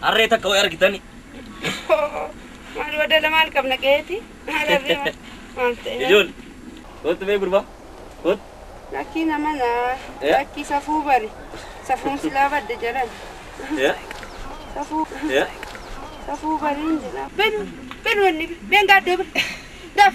Harree takka way argitani. Maal wadala maal qabna qeeti? Hararri maal maal ta'e? Ijool. Kootu mee gurbaa. Kootu. Lakkii nama naa. Eh? Lakkii safuu bari. Safuun silaa badde jedhan. Eh? Safuu. Eh? Safuu bariin jedhan. Benu. Benu wanni. Ben gaaddoo bari. Daaf.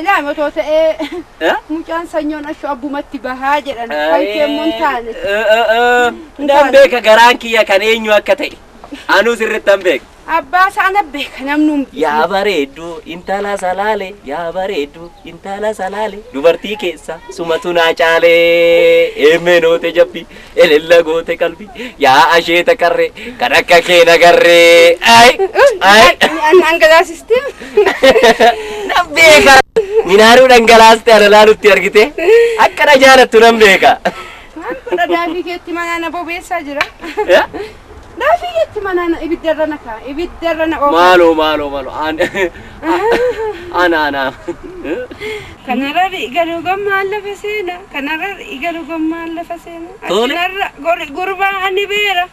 Ilaam otoo ta'ee Eh? mucaan sanyoon ashu abbumatti bahaa jedhan kan kee immoo hin taane. Nan beeka garaan kiyya kan eenyu akka ta'e. Anuu sirriitti nan beeka. Abbaa isaa na beeka namni hundi. Yaa bareeddu intala salaale yaa bareeddu intala salaale dubartii keessa sumatu naa caale eemmee noote jabbi Elella goote qalbi yaa asheeta qarree kan akka kee nagarree. Ay ay Dhangalaasistee. nan beeka. Minaaruu dhangalaaste ana laalutti argite akka na jaalattu nan beeka. Maal godha daadhii keetti manaa na bobeessaa jira. Naafii jetti manaa na ibidda irra na kaa ibidda irra na oofa. Maaloo maaloo maaloo aan ana ana. Kanarra galuu gammaan lafa seena. Kanarra galuu gammaan lafa seena. Tole. Achinarra gori gurbaa ani beera.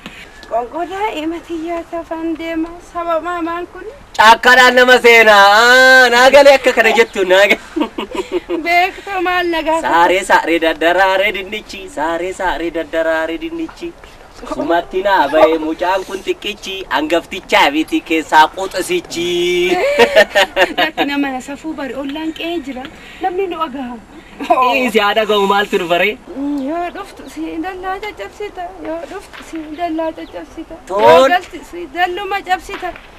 Qoonqoo daa'ima tiyyaa tafan deema saba maamaan kun. Caakkaadhaan nama seena. Aa, Naa galee akka kana jettu naa galee. Beekta maal na gaafata. Saaree saaree daddaraaree dinnichi. Saaree saaree daddaraaree dinnichi. Sumatti naa ba'e mucaan kun xiqqichi angaftichaa miti keessaa quxisichi. Lakki nama na safuu bari ollaan qe'ee jira. Namni nu agaha. Dhiisi haa dhaga'u maaltu nu baree? Yoo dhuftu si dallaa caccabsita. Yoo dhuftu si dallaa caccabsita. Yoo Toon. galti si dalluma cabsita.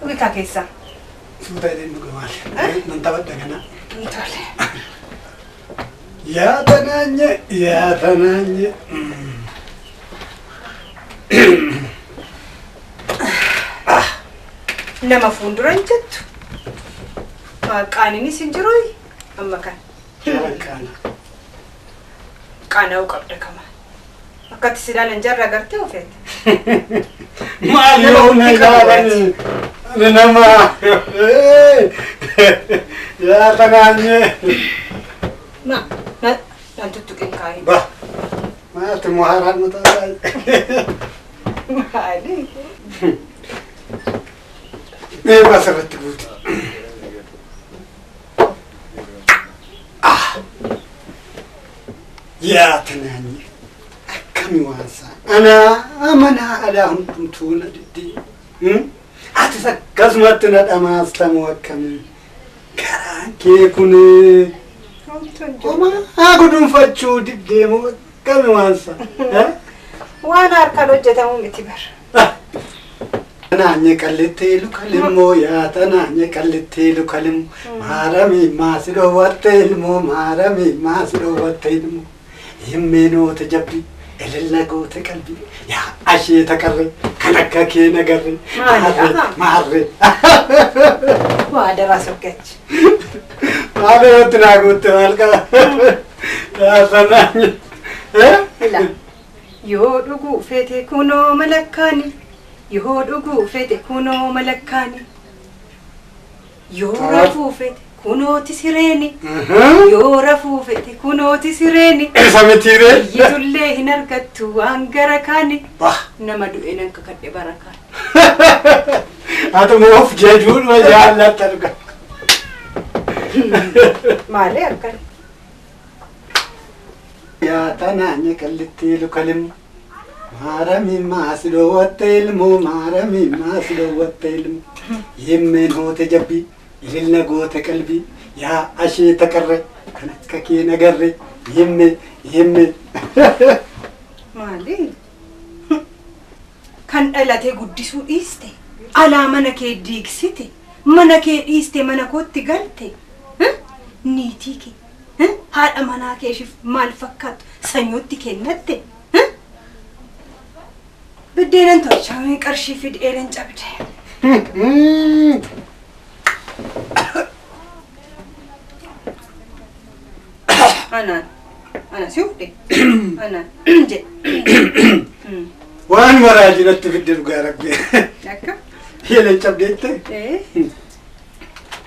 Dhugikaa keessaa. Suuta jedheen dhuga maal. Nan taphadha kana. Tole. Yaa tanaanye yaa tanaanye. Nama fuuldura hin jettu. Qaaniinis hin jiru amma kan. Qaana. Qaana'uu qabda kama. Akkatti si ilaalan jarra agartee ofeete. Maal Nama yoo na ofitti qabu ilaalani nama yaa kanaanyee Na na nan tuttuqin kaa'ee. ba maati muhaaraan mutaa Maali? deemaa sirratti guuti. yaa tanaanyi akkami waansaa anaa amanaa alaa hundumtuu na diddii hmm? atis akkasumatti na dhamaastamu akkamii garaan kee kun homaa gudunfachuu diddeemu akkami waansaa waan harkaan hojjetamu miti bara. Tanaanye qallittee luka limmoo yaa tanaanye qallittee luka limmoo maaramii maasi dhoowwattee ilmoo maaramii maasi dhoowwattee ilmoo himmee noote jabbii elella goote qalbii yaa asheeta qarree kan akka kee nagarree maarree maarree Waa daraa saggachi. maal irratti naa guutte maal qaba yaa tanaanye. Ila. Yoo dhuguu feete kunoo malakkaani Yoo dhuguu feete kunoo malakkaani Yoo rafuu feete kunooti sireeni Yoo rafuu feete kunooti sireeni Eessa mitiire? Iyyitullee hin argattu waan gara kaani Bah. Nama du'e nan kakadhe bara kaani. Atuma of jajuudhuma jaallattan. Maalee akkana. Yaa tanaanya qallittii lukalim Maaramiin maa si dhoowwatte ilmoo Maaramiin maa si dhoowwatte ilmoo Yimmeen hoote jabbii ilil na goote qalbii Yaa asheeta qarre kan akka kee na garre Yimme yimme Maali? Kan dhalatee guddisuu dhiiste, alaa mana kee diigsite, mana kee dhiiste mana kootti galte, niitii kee Hn haadha manaa keeshif maal fakkaattu sanyootti kennatte Hn biddeenan tolchaa mee qarshii fidi eelen cabde. Anaan ana si ufdhe anaan jedhe Hmm. Waan maraa jiratti fidde dhugaa rabbi. akka Yeelen cabdeette. ee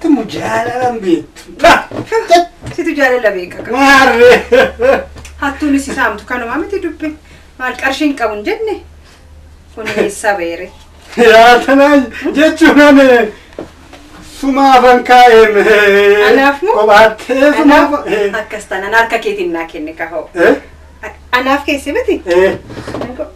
Tumu jaalalaan beektu. Situ jaalala beeka. Maarree. Hattuunis si saamtu kanuma miti dubbi. Maal qarshii hin qabu hin jenne. Kun eessaa beere. Yaa tanaan jechuun ani sumaa afan kaa'een. Anaaf moo? Qophaatee sumaa Anaaf afan. akkas taanaan harka keetiin naa kenne kahoo. Eh? Anaaf keessi miti. Eh?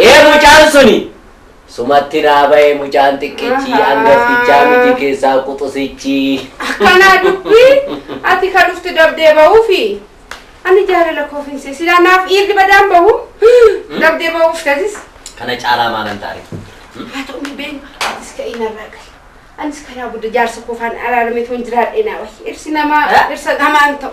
Ee mucaan suni! Sumatti naa baye mucaan xiqqichi angaftichaa miti keessaa quxusichi. Akkanaa dubbii ati ka dhufte dabdee bahuufi ani jaalala koof hin see silaa naaf dhiirri badaan bahu dabdee bahuuf tasis Kana caalaa maalan taare? haa ta'u ni beenu atis ka'ii narraa gali anis karaa gudda jaarsa koofaan araarame toon jiraadhee naa wahi dhirsi namaa dhirsa namaan ta'u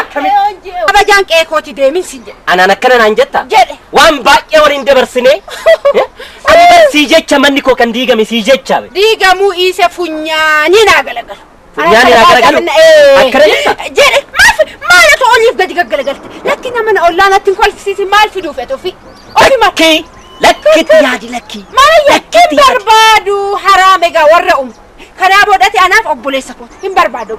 Akkami? Kabajaan qe'ee kooti deemin sin jedhe. Anaan akkana naan jetta? Jedhe. Waan baay'ee waliin dabarsine. Eh? Ani bar sii jecha manni koo kan diigame sii jecha. be. Diigamuu dhiise funyaanii naa galagalu. Funyaanii naa galagalu? Ee. Akkana jetta? Jedhe maaf maal osoo oliif gadi gaggalagalte lakki nama na ollaa natti hin kolfisiisi maal fiduuf etu ofi. Ofi maal Lakkii. Lakkitti yaadi lakkii. maal yakkin Lakkitti yaadi. barbaadu haraam egaa warra umu. Kanaa boodati anaaf obboleessa kooti hin barbaadu.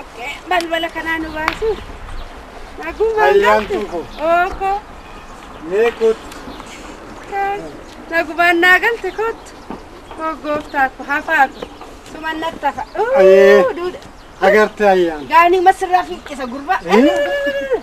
Okay. Balbala kanaa nu baasu. Nagumaan Ayyaantuu galtu. koo. Ooko. Mee kootu. Nagumaan naa galte kootu. Koo gooftaa ko hafaa ko. Suman natti hafa. Ayee. Uuu, duudha. Agartee ayyaan. Gaanii masirraa fiiqqisa gurbaa. Eh.